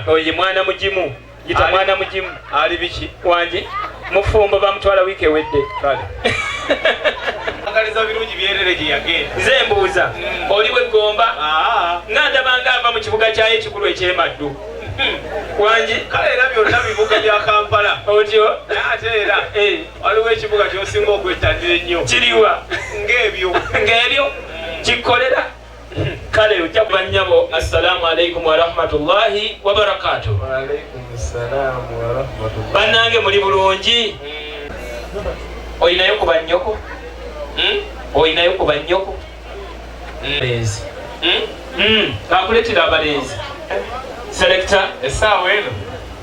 oye mwana mugimu yita mwana mugimu ali biki wangi mufumbo bamutwala wiiki ewedde agaliza birungi byerere gye yagenda nze mbuuza hmm. oli weggomba ah. nga ndabanga ava mu kibuga kyayo ekikulu ekyemaddu hmm. wangi kale era byonna bibuga bya kampala otyo ate era eh. waliwo ekibuga kyosinga okwettanira ennyo kiriwa ng'ebyo ng'ebyo hmm. kikolera kale ojja kuba nnyabo assalamu alaikum warahmatullahi wabarakatu bannange muli bulungi hmm. olinayo ku bannyoko hmm? olinayo ku bannyoko hmm? akuletera abalenzi selekta esaawa eno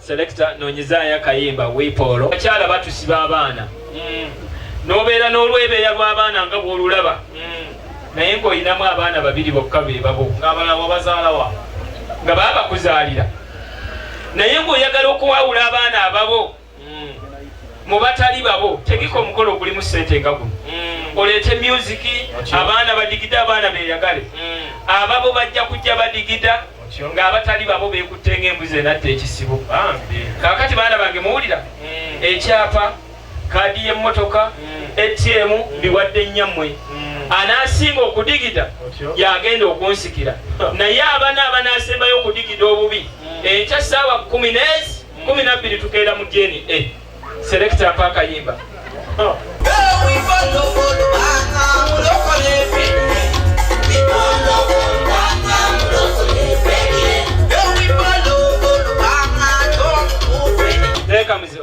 Selector nonyezaayo akayimba wipoolo abakyala batusiba abaana mm. nobeera n'olwebeeya lw'abaana nga bwolulaba mm. naye ng'olinamu abaana babiri bokka bebabo ngabalawabazaalawa nga baba bakuzaalira naye ng'oyagala okuwawula abaana ababo mm. mu batali babo tegeka omukolo ogulimu sente nga guno mm. oleete myuziki abaana badigide abaana beyagale mm. ababo bajja kujja badigida Kyo nga abatali babo beekutte ng'embuzi enatta ekisibo. Bambi. Kaakati baana bange muwulira? Mm. Ekyapa, kaadi y'emmotoka, mm. ATM mbiwadde nnyammwe. Mm. Anaasinga okudigida y'agenda okunsikira. Naye abana abanaasembayo okudigida obubi, enkya ssaawa kkumi n'ezi kkumi na bbiri tukeera mu DNA. Selector mpa akayimba. Oh.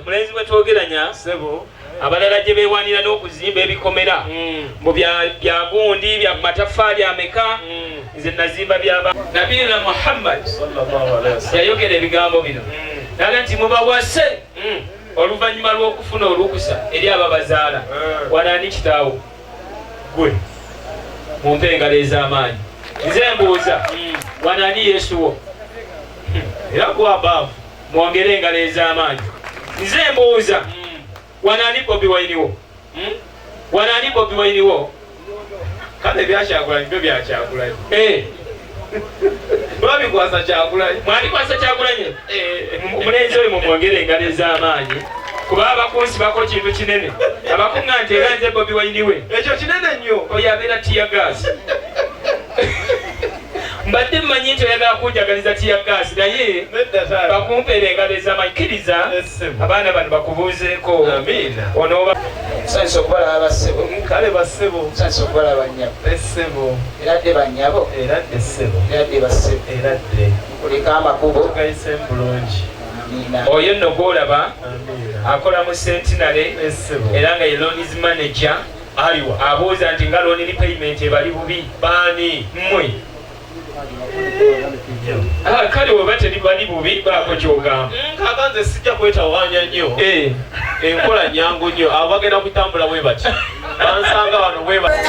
mulenzi bwetwogeranya sebo abalala gye bewanira n'okuzimba ebikomera mm. mbu bya gundi bya mataffaali ameka mm. nze nazimba byaba nabiyina muhammad yayogera ebigambo bino mm. naga nti mubawase Hmm. oluvannyuma lw'okufuna olukusa eri ababazaala eh. wano ani kitaawo gwe mu mpa engalo ez'amaanyi nze mbuuza hmm. wano ani yesu wo hmm. era gwabaavu mwongere engalo ez'amaanyi nze mbuuza wano ani bobi wayiniwo Hmm? Wano ani Bobi Wine wo? Kale ebyakyagulanyi byo byakyagulanyi. Eh. Babikwasa kyagulanyi. Mwabikwasa kyagulanyi. Eh. Omulenzi oyo mumwongere engalo ez'amaanyi. kuba abakunsi bako kintu kinene abakunga nti era nze bobi wainiwe ekyo kinene nnyo oyo abeera tiyagas mbadde mmanyi nti oyagala kunjagaliza tiyagaasi naye bakumpeera engalo ezamanyi kkiriza abaana bano bakubuuzeeko onooba sanisa okubalaba bassebo kale bassebo sanisa okubalaba nyabo essebo era dde banyabo era dde ssebo era dde bassebo era dde kulika amakubo gayise bulungi oyo nno gwolaba akola mu sentinale era nga ye lonis manager Aliwa abuuza nti nga loan repayment ebali bubi baani mmwe? Ah, kale weba tebibali bubi baako kyogamba mm, kaka nze sijja kwetawanya nnyo eh. enkola nyangu nnyo abo bagenda kutambula bwe bati bansanga wano bwe bati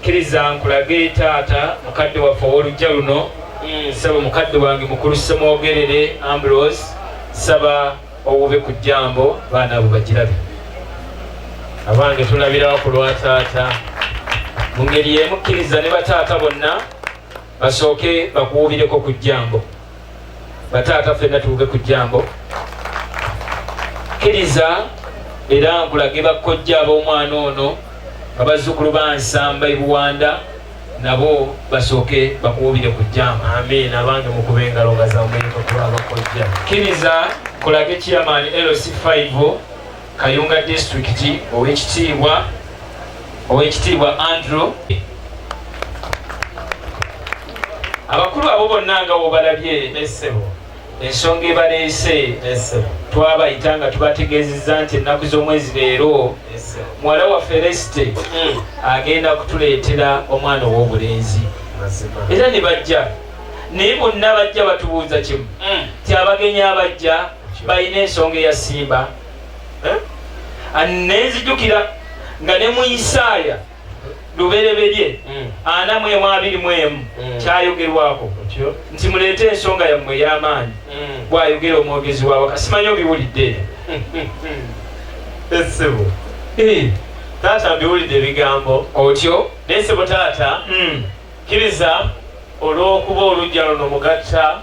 Kkiriza nkulage taata mukadde waffe ow'oluggya luno. Mm. Nsaba mukadde wange mukulu Ssemwogerere Ambrose, nsaba owube ku jjambo baana abo bagirabe. Abange tulabirawo ku lwa taata. Mu ngeri y'emu kkiriza ne bataata bonna basooke bakuwubireko ku jjambo. bataata fenna tuuke ku jambo kkiriza era nkulage bakkojja ab'omwana ono nga bazzukulu ba nsamba ebuwanda nabo basooke bakuwubire ku jambo amiina abange mukuba engalo nga zamuyinga kuba abakkojja kkiriza kulage chairman lc 5 Kayunga Disitulikiti ow'ekitiibwa ow'ekitiibwa Andrew abakulu abo bonna nga wobalabye essebo ensonga ebaleese twabayita nga tubategeezezza nti ennaku z'omwezi leero muwala waffe resite hmm. agenda kutuleetera omwana ow'obulenzi era ne bajja naye bonna bajja batubuuza kimu hmm. ti abagenyi abajja balina ensonga eyasimba nenzijukira nga ne mu isaaya lubereberye hmm. ana mu emu abiri mu emu hmm. kyayogerwako nti muleete ensonga yammwe ey'amaanyi hmm. bwayogera omwogezi waawe kasimanyi obiwulidde esibu eh. taata mbiwulidde ebigambo otyo naye sibu taata kiriza olw'okuba olujja luno mugatta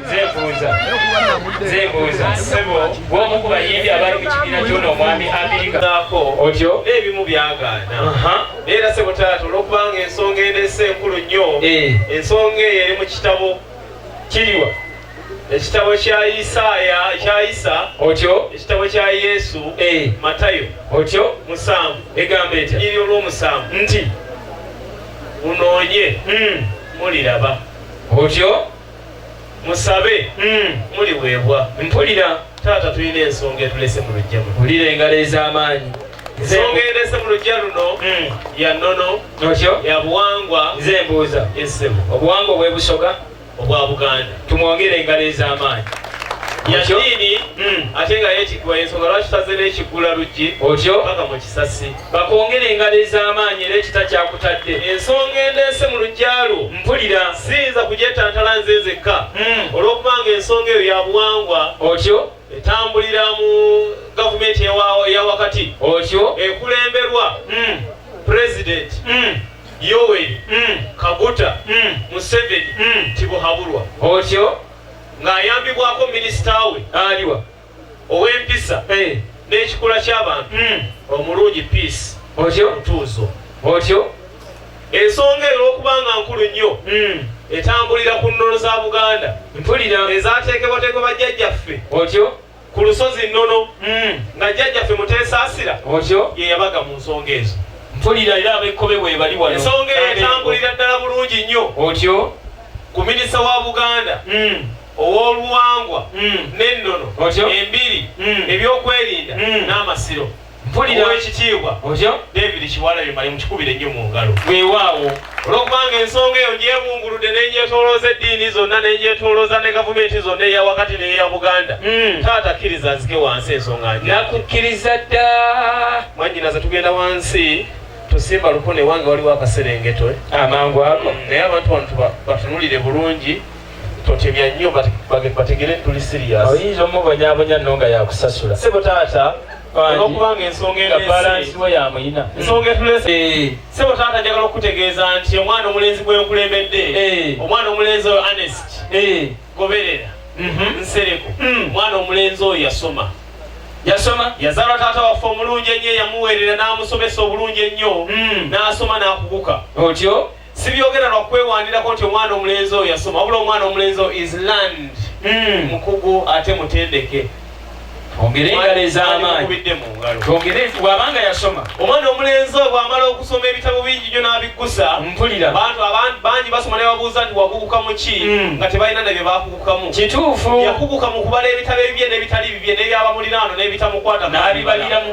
nzebuuza nzebuuza sebo bwomu ku bayimbi abali mu kibiina kyona omwami amerikaako otyo n'ebimu byagaana era sebo taata olwokubanga ensonga enese enkulu nnyo eh. ensonga eyo eri mu kitabo kiriwa ekitabo kya isaaya kya isa otyo ekitabo kya yesu eh. matayo otyo musanvu egamba etya iri olw'omusanvu nti munoonye hmm. muliraba otyo musabe mm. muliweebwa mpulira taata tulina ensonga etulese mu lujja mpulira engalo ez'amaanyi ensonga endese mu lujja luno mm. ya nnono otyo ya buwangwa nze embuuza esebo obuwangwa obwebusoga obwa buganda tumwongere engalo ez'amaanyi yadiini mm. ate nga yekiggwa yensonga lwaki taze n'ekiggula luggi otyo paka mu kisasi bakwongere engalo ez'amaanyi era ekita kyakutadde ensonga endeese mu lujja lwo mpulira siyinza kugyetantala nze nzekka hmm. olw'okubanga ensonga eyo ya buwangwa otyo etambulira mu gavumenti eya wakati otyo ekulemberwa hmm. pulezidenti hmm. yoweri kaguta museveni tibuhabulwa otyo ng'ayambibwako minisita we aliwa ow'empisa n'ekikula ky'abantu hmm. omulungi peace otyo mutuuzo otyo ensonga eyo olwokubanga nkulu nnyo hmm. etambulira ku nnono za buganda mpulira ezateekebwateekebwa bajjajjaffe otyo ku lusozi nnono hmm. nga jjajjaffe muteesaasira otyo ye yabaga mu nsonga ezo mpulira era abekkobe bwebali wano ensonga eyo etambulira ddala bulungi nnyo otyo ku minisita wa buganda ow'oluwangwa n'ennono, embiri, ebyokwerinda n'amasiro. Mpulira Oweekitiibwa David Kiwalabye Male mukikubire nnyo mu ngalo. Weewaawo. Olw'okubanga ensonga eyo ngyebunguludde ne ngyetoolooza eddiini zonna ne ngyetoolooza ne gavumenti zonna eya wakati n'eya Buganda, hmm. taata kkiriza nzike wansi ensonga nja. Nakukkiriza dda. Mwannyinaze tugenda wansi tusimba lukone wange waliwo akaserengeto. Eh? Amangu ago. Naye abantu bano batunulire bulungi. Totemya nnyo bategere tuli serious. Oyinza omubonyabonya no nga yakusasula. Sebo taata olwokubanga ensonga enesiweyamuyina mm. ensonga etulese eh. sebo taata njagala okukutegeeza nti omwana omulenzi gwenkulembedde eh. omwana omulenzi oyo anest eh. goberera mhm. nsereko mm. omwana omulenzi oyo yasoma yasoma yazalwa taata waffe omulungi ennyo eyamuweerera n'amusomesa obulungi ennyo mm. n'asoma n'akuguka otyo sibyogera lwa kwewandirako nti omwana omulenzi oyo yasoma wabula omwana omulenzi oyo is land hmm. mukugu ate mutendeke twongere engalo ez'amaanyi twongere nti bw'abanga yasoma omwana omulenzi oyo bw'amala okusoma ebitabo bingi nyo n'abiggusa mpulira bantu abantu bangi basoma nebabuuza nti wakuguka mu ki hmm. nga tebalina nabye bakugukamu kituufu yakuguka mu kubala ebitabo ebibye n'ebitali bibye n'ebyabamulinaano n'ebitamukwata n'abibaliramu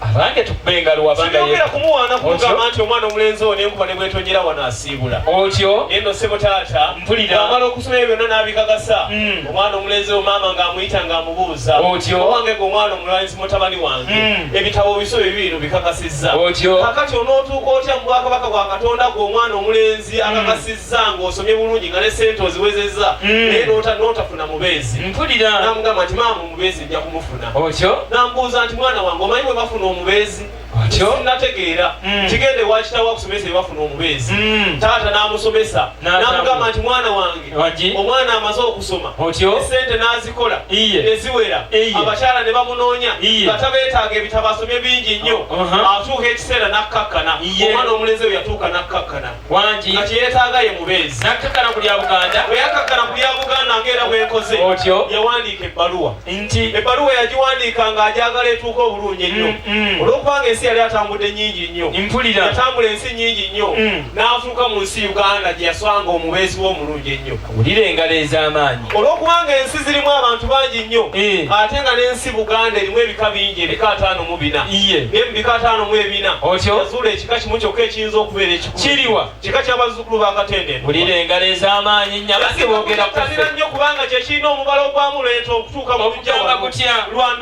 abange tukube engalo wabangaera kumuwaana kumugamba nti omwana omulenzi ono enkuba ne bwetonyera wano asiibula otyo naye no sebo taata mpulira amala okusoma ebyo byonna n'abikakasa hmm. omwana omulenzi wo maama ng'amuyita ng'amubuuza otyo owange gwe omwana omulanzi mutabani wange hmm. ebitabo biso bye bino bikakasizza otyo kakati onootuuka otya mu bwakabaka bwa katonda gwe omwana omulenzi hmm. akakasizza ng'osomye bulungi nga ne sente oziwezezza naye n'otafuna mubeezi mpulira namugamba nti maama omubeezi nja kumufuna otyo nambuuza nti mwana wange omanyi bwe bafuna omubeezi otyo nategeera mm. kigende wakitawo akusomesa bye bafuna omubeezi mm. taata n'amusomesa namugamba nti mwana wange omwana amaze okusoma otyo esente n'azikola eziwera abakyala ne bamunoonya bata beetaaga ebitabo asomye bingi nnyo uh-huh. atuuka ekiseera n'akkakkana omwana omulenzi oyo yatuuka n'akkakkana wangi kati yeetaaga ye mubeezi nakkakkana ku lya buganda bwe yakkakkana ku lya buganda ng'era bwe nkoze otyo yawandiika ebbaluwa nti ebbaluwa yagiwandiika ng'agyagala etuuka obulungi ennyo mm, mm. olw'okubanga ensi yali atambudde nnyingi nnyo mpulira yatambula ensi nnyingi nnyo mm. n'afuuka mu nsi uganda gye yaswanga omubeezi w'omulungi ennyo Wulira engalo ez'amaanyi. Olw'okubanga ensi zirimu abantu bangi nnyo eh. ate nga n'ensi Buganda erimu ebika bingi ebika ataano mu bina naye mu bika ataano mu ebina yazuula ekika kimu kyokka ekiyinza okubeera ekikulu kiriwa kika ky'abazzukulu ba Katende. Wulira engalo ez'amaanyi nnyabasi boogera kutanira nnyo kubanga kye kirina omubala ogwamuleeta okutuuka mu lujja lwa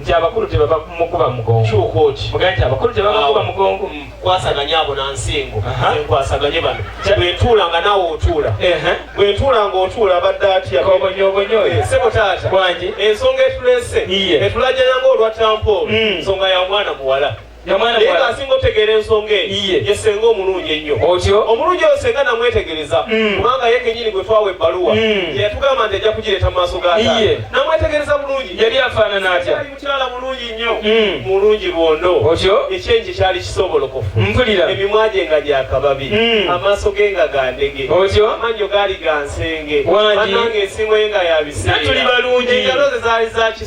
nti abakulu tebaba mukuba mugongo kyuka oti mugambe nti abakulu tebaba mukuba mugongo mm, kwasaganya abo na nsingo enkwasaganye bano bwentuula nga naawe otuula bwentuula nga otuula abadde atya kobonyobonyoyo eh, sebo taata wangi ensonga etulese etulajanya nga olwa tampoolo mm. nsonga ya mwana muwala naye ng'asinga otegeera ensonga eyo ye senga omulungi ennyo omulungi oyo senga namwetegereza mm. kubanga ye kenyini gwe twawa ebbaluwa mm. yeyatugamba nti ajja kugireeta mu maaso ga namwetegereza bulungi yali afaanana atya mukyala mulungi nnyo mm. mulungi lwondo ekyenji kyali kisobolokofu mpulira emimwa gye nga gyakababi amaaso ge nga gandege amannyo gaali gansenge anange ensingo ye nga yabiseera tuli balungi engalo ze zaali zaki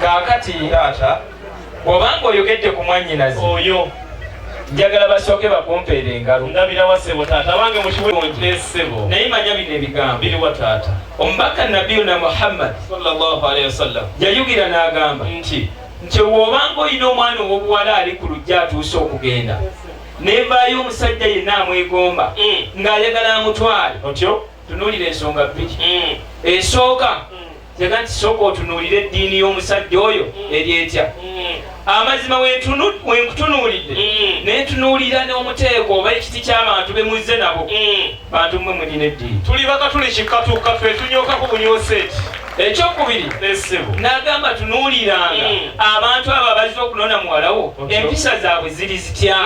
kaakati taata bw'oba ng'oyogedde ku mwannyinazi oyo njagala basooke bakumpeera engalo ndabirawa ssebo taata abange mukiwonje ssebo naye manya bino ebigambo biriwa taata omubaka nabiyuna muhammad salllahualihi wasallam yayugira n'agamba nti nti wooba ng'olina omwana ow'obuwala ali ku lujja atuuse okugenda nevaayo omusajja yenna amwegomba mm. ng'ayagala amutwale otyo tunuulira ensonga bbiri mm. esooka yaga nti sooka otunuulira eddiini y'omusajja oyo eri etya amazima wenkutunuulidde mm. nentunuulira n'omuteeko oba ekiti ky'abantu bemuzze nabo mm. bantu mwe mulina eddiini tuli bakatuli kikatuka fe tunyokaku bunyoseeti ekyokubiri nagamba tunuuliranga mm. abantu abo abazze okunona muwalawo empisa zaabwe ziri zitya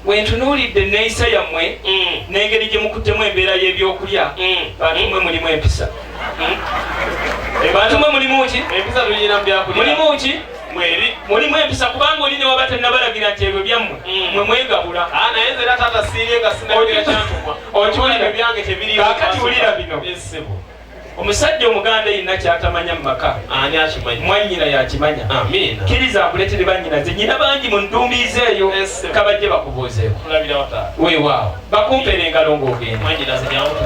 Bwe ntunuulidde enneeyisa yammwe n'engeri gye mukuttemu embeera y'ebyokulya, bantu mwe mulimu empisa. Bantu mwe mulimu ki? Empisa tuyina mu byakulya. Mulimu ki? mulimu empisa kubanga oli ne waba tannabalagira nti ebyo byammwe mm. mwe mwegabula ah, naye nze era taata siirye nga sinabira kyantumwa okiwulira ebyange tebiriwo kakati wulira bino Omusajja omuganda yenna kyatamanya mu maka ani akimanyi? Mwannyina yakimanya. Amiina. Kkiriza akuleetere bannyinaze. Nnyina bangi mu ndumbiizi eyo. Yes, sebo. Ka bajje bakubuuzeeko. Tulabira wa taata? Weewaawo. Bakumpere engalo ng'ogenda. Mwannyinaze jangu tugende.